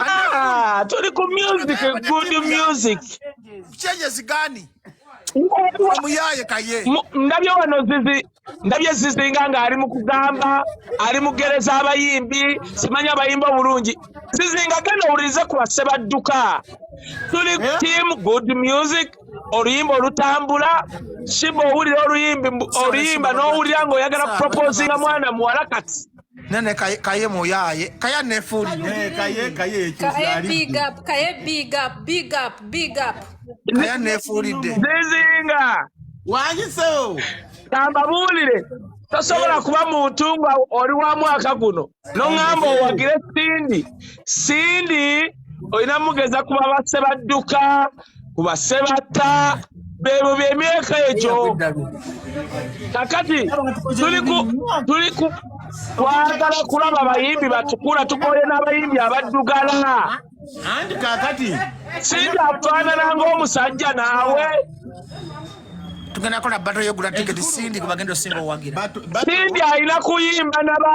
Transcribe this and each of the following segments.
Ah, tuli ku music, good music. Changes gani? Omuyaye kaye. Ndabye wano zizi, ndabye zizi nga nga ali mukugamba, ali mugereza abayimbi, simanyi abayimba bulungi. Zizi nga gano ulize kwa seba duka. Tuli eh? team good music, oluyimba olutambula, shibo uli oluyimbi, oluyimba no uli yango yagana proposing mwana muwalakati. nene kaye kaye moyaye kaya nefuli eh kaye kaye kaye big up kaye big up big up big up kaya nefuli de zizinga wanyiso tambabulire tosobola kuba muntu nga oli wa mwaka guno noŋamba owagire sindi sindi olina mugeza kuba basse badduka ku basse batta bebo byemyaka egyo kakati tuli ku twagala kulaba abayimbi batukula tukoye n'abayimbi abaddugala anti kakati singa afaanana ng'omusajja naawe tugenda kola bato yogula tiketi sindi kubagenda osinga owagira sindi alina kuyimba naba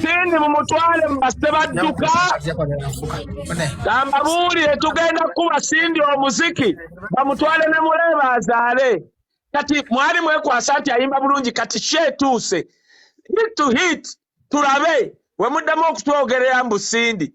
Sindi mumutwale mubase badduka gamba buulire tugenda kukuba Sindi omuziki bamutwale ne muleeba azaale kati mwali mwekwasa nti ayimba bulungi kati ki etuuse hit to hit tulabe wemuddamu okutwogerera mbu Sindi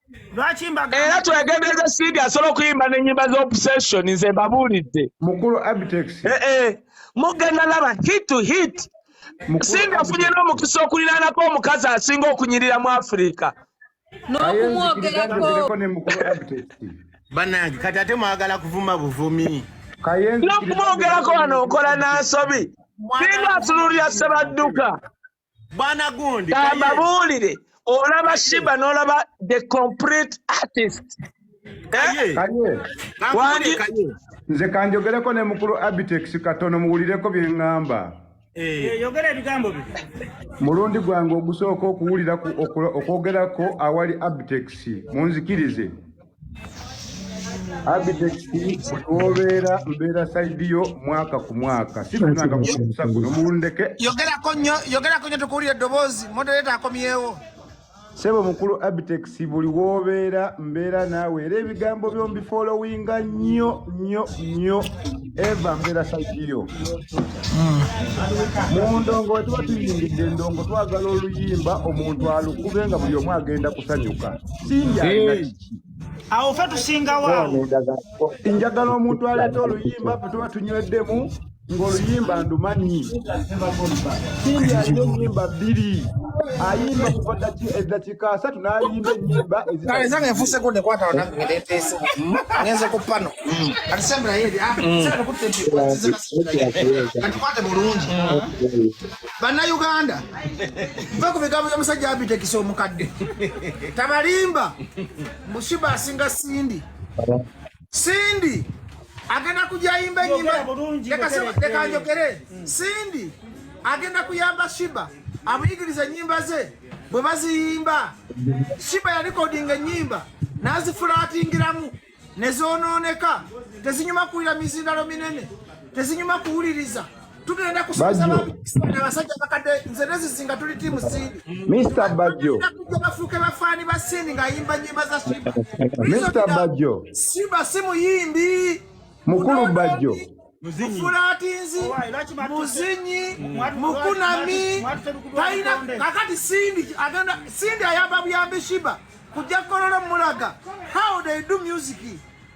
era twegendereza sidi asobola okuyimba nenyimba zobsession nze mbabuulidde mukulu abtex eh, eh. mugenda laba hit to hit sindi afunye n'omukisa okuliranako omukazi asinga okunyirira mu afirika nokumwogerako ne mukulu abtex banange kati ate mwagala kuvuma buvumi nokumwogerako wano nkola nansobi singa atunulira sebadduka bwana gundi kambabuulire olaba shiba n'olaba the complete artist eh? nze kanjogereko ne mukulu abitex katono muwulireko bye ŋŋamba Eh. Eh, yogera ebigambo bye mulundi gwange ogusooka okuwulira okwogerako awali abtex munzikirize Abitex obeera mbeera sayidi yo mwaka ku mwaka sifunanga kusa guno muwulindeke yogerako nnyo yogerako nnyo tukuwulira eddoboozi modereta akomyewo sebo mukulu abitex buli wobeera mbeera naawe era ebigambo byombifolowinga nnyo nnyo nnyo eva mbeera sagiyo hmm. mu ndongo we tuba tuyingidde endongo twagala oluyimba omuntu alukube nga buli omu agenda kusanyuka sinja alina kiki awo fe tusingawo awo njagala omuntu aleeta oluyimba fe tuba tunyweddemu ng'oluyimba ndumanyi sinja alina enyimba bbiri ayimba kuva daki amateeka asatu n'ayimba ennyimba ezange nfuuseko nekwata banange ngende nteese ngenze ku pano kati sembula yeri katikwate bulungi bannayuganda nva ku bigambo by'omusajja abitekisa omukadde tabalimba mushiba asinga sindi Cindy agenda kujayimba enyimba lekanjogere mm. Cindy agenda kuyamba Shiba amuyigiriza enyimba ze bwe baziyimba Shiba yalikodinga enyimba nazifulatingiramu nezononeka tezinyuma kuwulira mizindalo minene tezinyuma kuwuliriza tugenda kusomesa abasajja bakadde nze nezizinga tuli tiimu siidi mr bajjo bafuuke bafaani ba siini ng'ayimba nyimba za shiba mr bajjo shiba si muyimbi mukulu bajjo mufulatinzi muzinyi mukunami talina kakati sindi agenda sindi ayamba buyambi shiba kujja kololo mulaga how they do music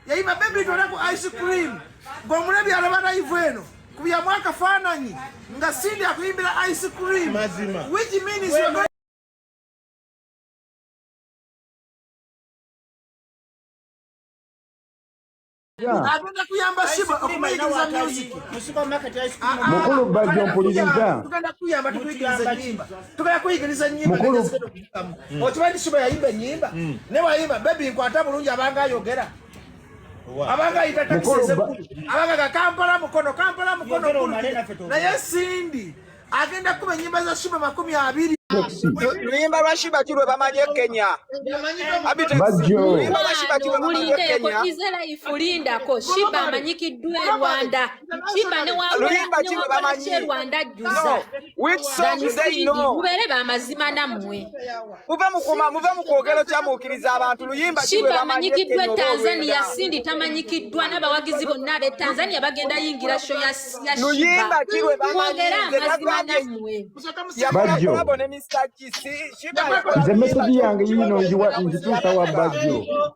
yayiba bebi tolaku ice cream ng'omulabi alaba laivu eno kubyamu akafaananyi nga sindi akuyimbira ice cream which means agenda kuyamba siba okumayigiriza music ah, ah, mukulu bajjo mpuliriza tugenda kuyamba tukuyigiriza nyimba tugenda kuyigiriza nyimba mm. okimanyi nti siba yayimba ennyimba mm. ne wayimba bebi nkwata bulungi abanga ayogera abanga ayita takiseze abanga ga kampala mukono kampala mukono naye sindi agenda kuba ennyimba za shiba makumi abiri luyimba lwa shibati lwe bamanyi e kenya luyimba lwa shibati lwe bamanyi e kenya lindako shiba amanyikiddwa e rwanda shiba ne wa rwanda ajjuza Which song do they know? Mubere ba mazima na mwe. Muve mukuma, muve mukogelo kya mukiriza abantu luyimba kiwe bamanyikidwa Tanzania sindi tamanyikidwa nabawagizi bonna be Tanzania bagenda yingira show ya ya Shiba. Luyimba kiwe bamanyikidwa mazima na mwe. Bajjo. Nze message yange yino njiwa nzitusa wa Bajjo.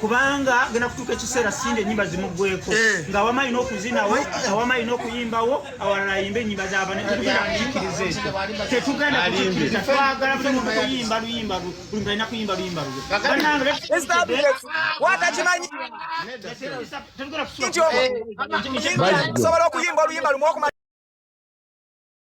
kubanga agenda kutuuka ekiseera singa enyimba zimuggweko eh. nga awamu alina okuzinawo awamu alina okuyimbawo awalala ayimba enyimba zabanekirize tetugenda kukikiriza twagala buli muntu kuyimba luyimba buli muntu alina kuyimba luyimba lwesobola okuyimba oluyimba lumu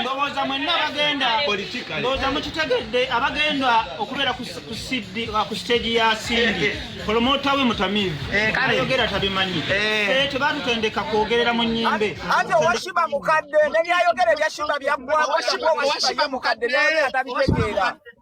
ndowooza mwenna abagenda ndowooza mukitegedde abagenda okubeera ku siteegi ya sindi kolomota we mutamivu eh, ayogera tabimanyi eh. Eh, tebatutendeka kwogerera mu nyimbe ate owashiba mukadde nebyayogera ebyashiba byaggwaoashiba mukadde naye atabitegeera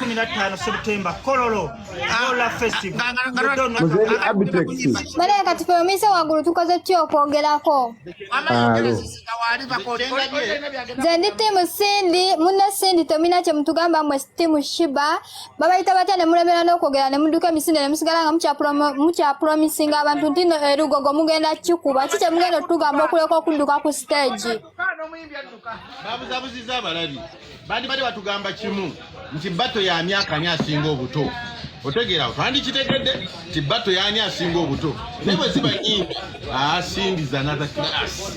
15 September Kololo Lola Festival Bale kati fe omise wagulu tukoze ki okwogerako nze ndi tiimu Cindy munne Cindy tomina kye mutugamba mwe tiimu Shiba babayita batya ne mulemera n'okwogera ne mudduka emisinde ne musigala nga mukyapromisinga abantu ntino erugogo mugenda kikuba ki kye mugenda okutugamba okuleka okudduka ku stage babuzabuziza abalabi bandibadde batugamba kimu nti bato yamyaka ani asinga obuto otegeera awo twandikitegedde nti bato yani asinga obuto naye bwe ziba nyimbi asindiza natha class